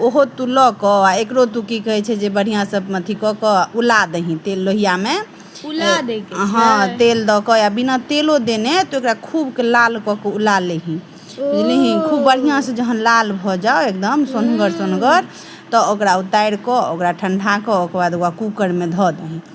ओहो तू लऽ कऽ आ एकरो तू की कहै छै जे बढ़िआँसँ अथी कऽ कऽ उला दही तेल लोहियामे उला दै के हँ छै तेल दऽ कऽ या बिना तेलो देने तऽ ओकरा खूबके लाल कऽ कऽ उला लेही बुझलिही खूब बढ़िआँसँ जहन लाल भऽ जाउ एकदम सोनगर सोनगर तऽ ओकरा उतारि कऽ ओकरा ठण्डा कऽ ओकर बाद ओकरा कूकरमे धऽ दही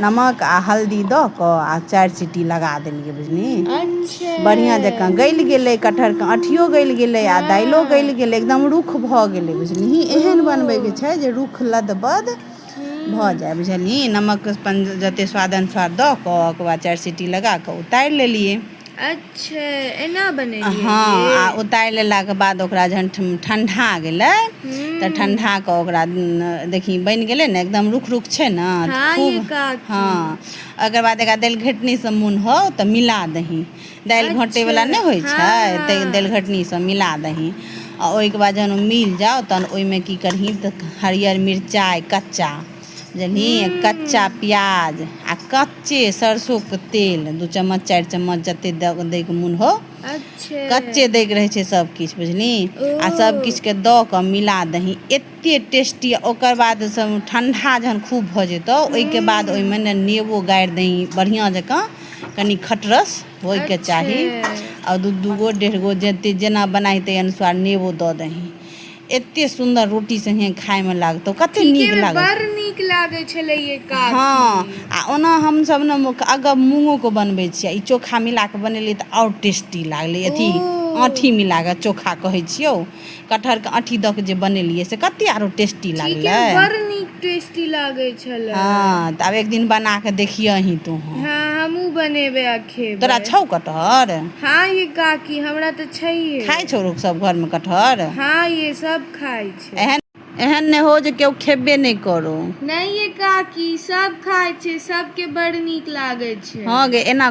नमक आ हल्दी दऽ कऽ आ चारि सीटी लगा देलियै बुझली अच्छा बढ़िआँ जकाँ गलि गेलै कटहरके अँठियो गलि गेलै आ दालिओ हँ। गलि गेलै एकदम रुख भऽ गेलै बुझलिही एहन बनबैके छै जे रुख लदबद भऽ जाय बुझलिही नमक अपन जतेक स्वाद अनुसार दऽ कऽ ओकर बाद चारि सीटी लगा कऽ उतारि लेलियै अच्छा एना बने हँ आ उतारि लेलाके बाद ओकरा जहन ठण्डा गेलै तऽ ठण्डा कऽ ओकरा देखी बनि गेलै ने एकदम रुख रुख छै ने हँ खूब हँ ओकर बाद एकरा दालि घटनीसँ मोन हो तऽ मिला दही दालि घोटैवला अच्छा, नहि होइ हँ छै तऽ हँ दालि घटनीसँ मिला दही आ ओहिके बाद जहन ओ मिल जाउ तहन ओहिमे की करही तऽ हरियर मिरचाइ कच्चा बुझलि कच्चा हूँ प्याज आ कच्चे सरसो के तेल दू चम्मच चारि चम्मच जते द दै के मोन होउ अच्छे कच्चे दै के रहै छै सब किछ बुझलि ओ आ सब किछ के द क मिला दही एते टेस्टी ओकर बाद ठंडा जहन खूब भ जेतौ तऽ ओहिके बाद हूँ ओहिमे ने नेबो गारि दही बढ़िआँ जकाँ कनि खटरस होइके अच्छे चाही आ दू दूगो डेढ़ गो जते जेना बनाइ ताहि अनुसार नेबो दऽ दही एते सुन्दर रोटी संगे खायमे लागतौ कते नीक लागत बड़ नीक लागै छलै हँ आ ओना हमसभ ने अगब मूँगोके बनबै छियै ई चोखा मिला कऽ बनेलियै तऽ आओर टेस्टी लागलै अथी आँठी मिला कऽ चोखा कहै छियौ कटहरके आँठी दऽ कऽ जे बनेलियै से कते आरो टेस्टी लागलै बड़ नीक टेस्टी लागै छलै हँ तऽ आब एक दिन बना कऽ देखियही तू हँ हमहूँ बनेबै खेबै तोरा छौ कटहर हाँ ये काकी हमरा तऽ छैहे खाइ छौ लोक सब घरमे कटहर हाँ ये सब खाइ छै एहन एहन नहि हो जे केओ खेबे नहि करो नहि ये काकी सब खाइ छै सबके बड़ नीक लागै छै हाँ गे एना